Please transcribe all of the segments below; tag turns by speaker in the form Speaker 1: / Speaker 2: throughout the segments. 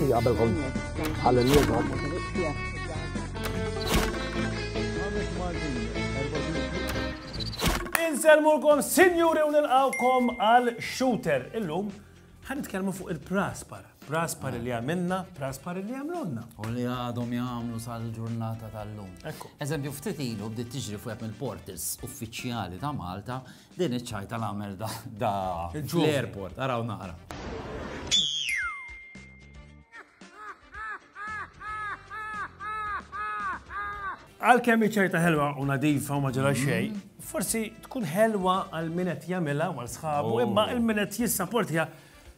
Speaker 1: Għabelkom għal-nirgħod.
Speaker 2: Inselmulkom, sinjuri u nilqawkom għal shooter. Illum, ħan nitkellmu fuq il-praspar. Praspar li għamilna, praspar li għamlunna. U li għadhom
Speaker 3: jgħamlu sal-ġurnata tal-lum. Eżempju, ftit ilu bdiet tiġri fuq il-portals uffiċjali ta' Malta Din iċ-ċajta l-għamel da da l-airport, araw naqra.
Speaker 2: Għal kemm iċ-ċajta ħelwa u nadifa u ma ġara mhm. xejn, forsi tkun ħelwa għal min qed jagħmilha għal sħabu, oh. imma il-min qed jissaportja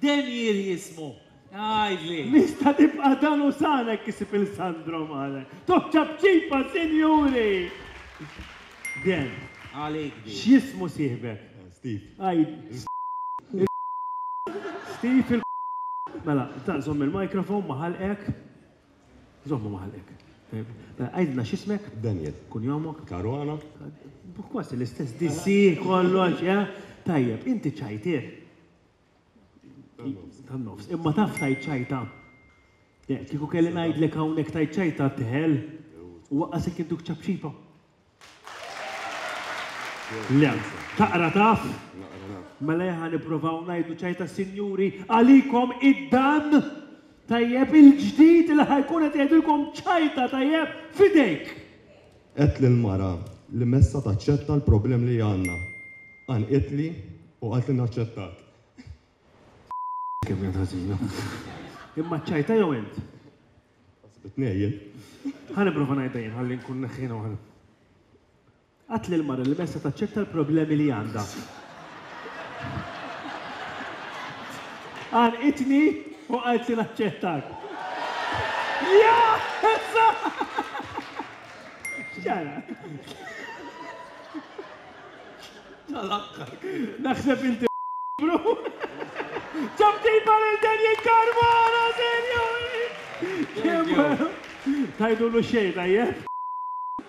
Speaker 4: Denier jismu, għidli. Nista' nibqa'
Speaker 1: dan u sara jekk isib il-Sandro male. Toh ċapċipa, sinjuri! Den,
Speaker 4: Għalik
Speaker 5: din.
Speaker 1: x'jismu sieħbek? Steve. Għidli. Steve. Steve il. Mela, ta' żomm il-microphone ma' ħalqek. Żommu ma' ħalqek. Mela, għidilna x'ismek? Denier. Kunjomok?
Speaker 5: Caruana. Kważi
Speaker 1: l-istess, DC, kollox, eh? Tajjeb, inti ċajtier? Tan-nofs. Imma taf tajt ċajta. Kieku kelli ngħidlek hawnhekk tajt ċajta teħel u waqqasek induk ċapċipa. Le, taqra taf? Mela jaħan nipprovaw ngħidu ċajta sinjuri għalikom id-dan tajjeb il-ġdid li ħajkun qed jgħidilkom ċajta tajjeb fidejk. Għedt
Speaker 5: lill-mara li messha taċċetta l-problemi li għandna. Għanqitli u qalt li naċċettat.
Speaker 1: Kemm jgħid ħażina. Imma ċċajtha jew int? Ħasbit
Speaker 5: ngħejjen. Ħa
Speaker 1: nipprova ngħidha jien ħalli nkun neħħiha waħda. Għedt lill-mara li messha taċċetta l-problemi li għandha. Għalqitni u qalt li naċċettak. X'ġara? Naħseb inti bru. Ġab tipa lil Daniel Carmona, serju! Tgħidulu xejn, tajjeb?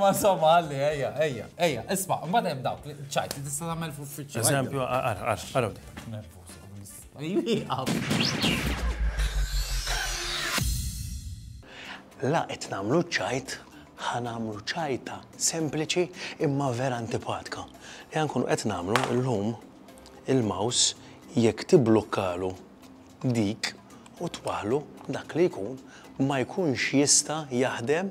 Speaker 3: Ma somma għalli, ejja, ejja, ejja, isma, ma dem dawk, ċajt, li tista tagħmel f'uffiċċju. Eżempju, għara,
Speaker 2: għara,
Speaker 6: La, qed nagħmlu ċajt, ħa nagħmlu ċajta sempliċi imma vera antipatka. Li għankun qed nagħmlu llum il-mouse jekk tiblukkalu dik u twaħlu dak li jkun ma jkunx jista' jaħdem